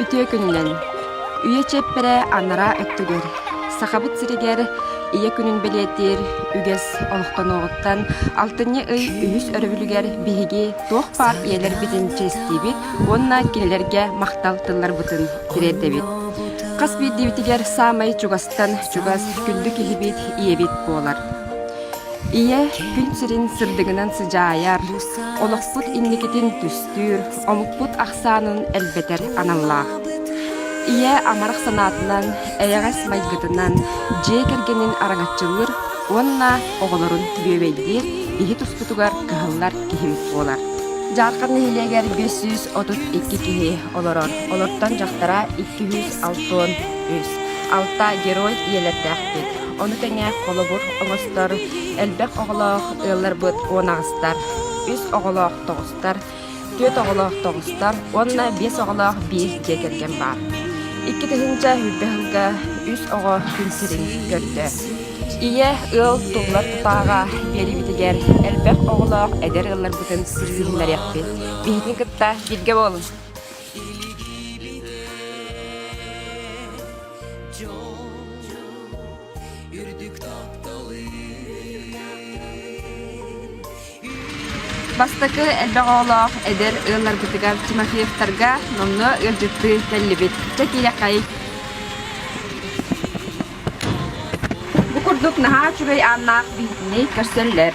Үтүө күнүнэн! Үйэ чиэппэрэ анараа өттүгэр Сахабыт сиригэр Ийэ күнүн бэлиэтиир үгэс олохтонуоҕуттан алтынньы ый үһүс өрөбүлүгэр биһиги туох баар ийэлэрбитин чэстиибит уонна кинилэргэ махтал тылларбытын тириэрдэбит. Хас биирдиибитигэр саамай чугастан чугас күндү киһибит ийэбит буолар. Ийэ күн сирин сырдыгынан сыдьаайар, олохпут инникитин түстүүр, омукпут ахсаанын элбэтэр аналлаах. Ийэ амарах санаатынан, эйэҕэс майгытынан дьиэ кэргэнин араҥаччылыыр уонна оҕолорун бүөбэйдиир иһи туспутугар кыһыллар киһим буолар. Дьаархан нэһилиэгэр 532 киһи олорор. Олортон дьахтара 206 алта герой ийэлэрдээхпит. Ону тэҥэ холобур оҥостор элбэх оҕолоох ыалларбыт уон аҕыстар, үс оҕолоох тоҕустар, түөрт оҕолоох тоҕустар уонна биэс оҕолоох биир дьиэ кэргэн баар. Икки тыһыынча сүүрбэ сылга үс оҕо күн сирин көрдө. Ийэ ыал туллар тутааҕа биэрибитигэр элбэх оҕолоох эдэр ыалларбытын сирсиһиннэриэхпит. Биһитин кытта бииргэ буолун! Дьон үрдүк Бастакы элбэх оҕолоох эдэр ыалларбытыгар Тимофеевтарга номнуо ыалдьыттыы кэллибит. Чэ тирэххэй. Бу курдук наһаа үчүгэй ааннаах биһитини көрсөллөр.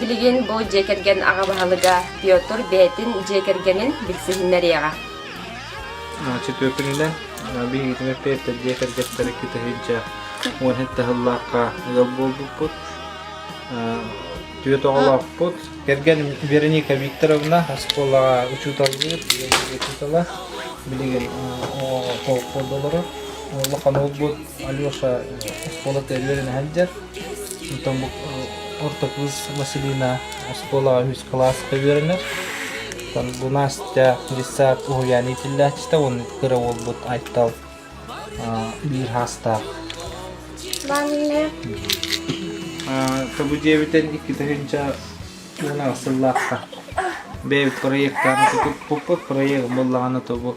Билигин бу дьиэ кэргэн аҕа баһылыга Петр бэйэтин дьиэ кэргэнин билсиһиннэриэҕэ. Чөтүөкүнүнэн биһигитин эппиэттэр дьиэ кэргэттэрэ кэтэһииччэ уон һэт таһыллаахха ыал буолбуппут. Түөрт оҕолоохпут. Кэргэн Вероника Викторовна оскуолаҕа учууталлыыр, учуутала. Билигин олоххо олорор. Улахан уолбут Алеша оскуола тэрийэрин сылдьар. Оттон бу орто кыыс Василина оскуолаҕа үһүс кылааска үөрэнэр. Оттон бу Настя десят уһуйаан иитиллээччитэ уонна кыра уолбут Айтал биир саастаах. Мамина. Табу диэбитин икки тыһыынча уон сыллаахха бэйэбит проектарын тутуппуппут проект буллаҕына тобу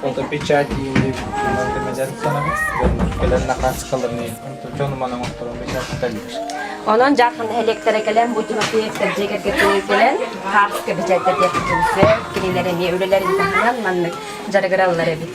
Фотопечать иилиибит тула көмөлөөн санабыт, дьоннор кэлэн накааскаларını дьонуман оҥотторон печататалыыр. Онон Дьаархан нэһилиэктэрэ кэлэн бу дьиэкэр дьиэкэргиттэрин кэлэн хаартыска печаттердиэхпитин сөп, кинилэр эмиэ үлэлэрин таһынан маннык дьарыгыраллар эбит.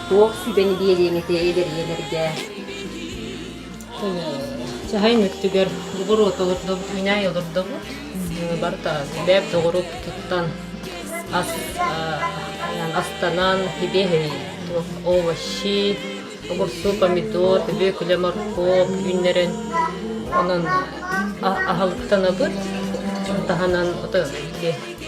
Туох сүбэни биэриэҥитэй эдэрийэлэргэ? Чаһайын өттүгэр бугуруот олордобут, үүнээй олордобут. Барыта бэп доҕору туттан ас, астанан, ибиэһи, овощи, огурсу, помидор, бөкүлэ, моркуоп үүннэрэн онон аһылыктанабыт таһынан ото ити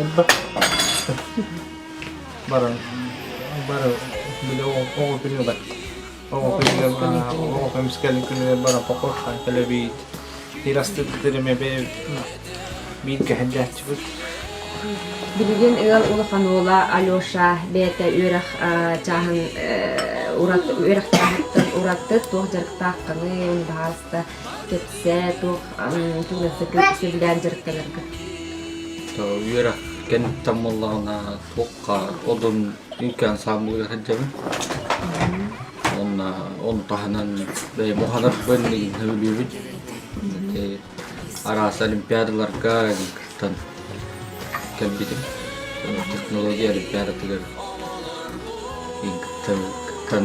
Элбэх баран бары били оҕо күнүгэр оҕо күнүгэр оҕо көмүскэлин күнүгэр баран покорхан кэлэбит сир астыттырым эбэ биир кэһэрдээччибит Билигин ыал улахан уола Алеша бэйэтэ үөрэх чааһын урат үөрэхтээхиттэн ураты туох дьарыктааххыный баһаалыста кэпсээ, туох сөбүлээн дьарыктанарга. Үөра кэнниттэн буоллаҕына туохха одун инкен ансамблыгар сылдьабын. Уонна ону таһынан бэйэ муһанарбын мигин сөбүлүүбүт. Араас олимпиадаларга кыттан кэлбитим. Технология олимпиадатыгар кыттан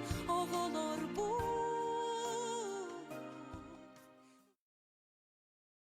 оҕолорбун